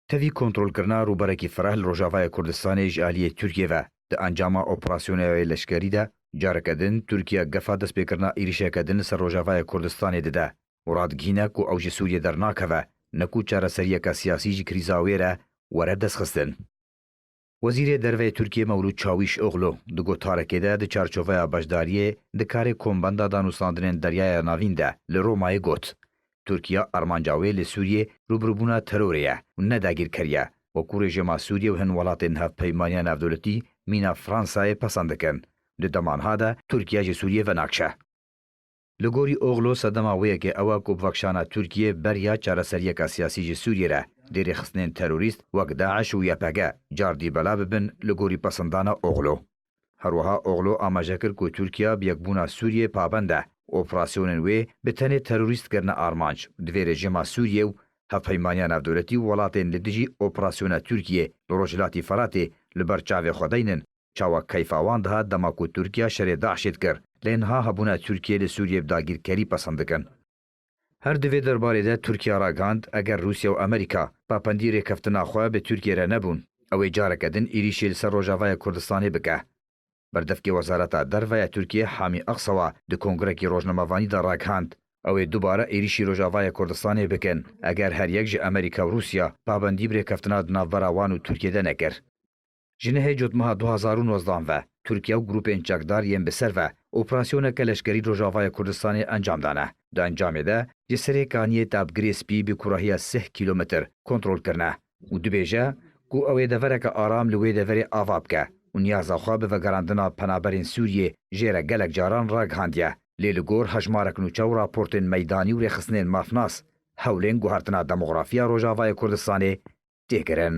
Tevî kontrolkirina rûberekî fereh li Rojavayê Kurdistanê ji aliyê Tirkiyê ve. Di encama operasyoneyê leşkerî de careke din Tirkiye gefa destpêkirina êrîşeke din li ser Rojavayê Kurdistanê dide û radigihîne ku ew ji Sûriyê dernakeve ne ku çareseriyeke siyasî ji krîza wê re were destxistin. Wezîrê Derveyê Tirkiyê Mewlûd Çawîş Oglu di gotarekê de di çarçoveya beşdariyê di karê Kombenda Danûstandinên Deryaya Navîn de li Romayê got, Tirkiye armanca wê li Sûriyê rûbirûbûna terorê ye û ne dagîrker ye, weku rejîma Sûriyê û hin welatên Hevpeymaniya Navdewletî mîna Fransayê pesen dikin, di dema niha de Tirkiye ji Sûriyê venakşe. Li gorî Oglu sedema wê yekê ew e ku bi vekişana Tirkiyê beriya çareseriyeke siyasî ji Sûriyê re dê rêxistinên terorîst wek DAIŞ û YPG car dî belav bibin li gorî pesindana Oglu. Her wiha Oglu amaje kir ku Tirkiya bi yekbûna Sûriyê pabend e û operasyonên wê bi tenê terorîst kirine armanc divê rejîma Sûriyê û hevpeymaniya navdewletî û welatên li dijî operasyona Tirkiyê li Rojhilatî Feratê li ber çavê xwe deynin. Çawa keyfa wan dihat dema ku Tirkiya şerê DAIŞ'ê dikir, lê niha hebûna Tirkiyeyê li Sûriyeyê bi dagîrkerî pesend dikin. Her di vê derbarê de Tirkiya ragihand, eger Rûsya û Amerîka papendî rêkeftina xwe bi Tirkiyeyê re nebûn, ew ê careke din êrîşê li ser Rojavaya Kurdistanê bike. Berdevkê Wezareta Derve ya Tirkiyeyê Hamî Aksawa di kongrekî rojnamevanî de ragihand, ew ê dubare êrîşî Rojavaya Kurdistanê bikin, eger her yek ji Amerîka û Rûsya pabendî bi rêkeftina di navbera wan û Tirkiyeyê de nekir. Ji nehê cotmeha du hezar û nozdan ve Tirkiye û grûpên çekdar yên bi ser ve operasyoneke leşkerî Rojavayê Kurdistanê encam dane. Di encamê de ji serê kaniyê Tabgirê Spî bi kurahiya sih kîlometr kontrol kirine û dibêje ku ew ê devereke aram li wê deverê ava bike û niyaza xwe bi vegerandina penaberên Sûriyê jê re gelek caran ragihandiye lê li gor hejmarek nûçe û raportên meydanî û rêxistinên mafnas hewlên guhertina demografiya Rojavayê Kurdistanê tê kirin.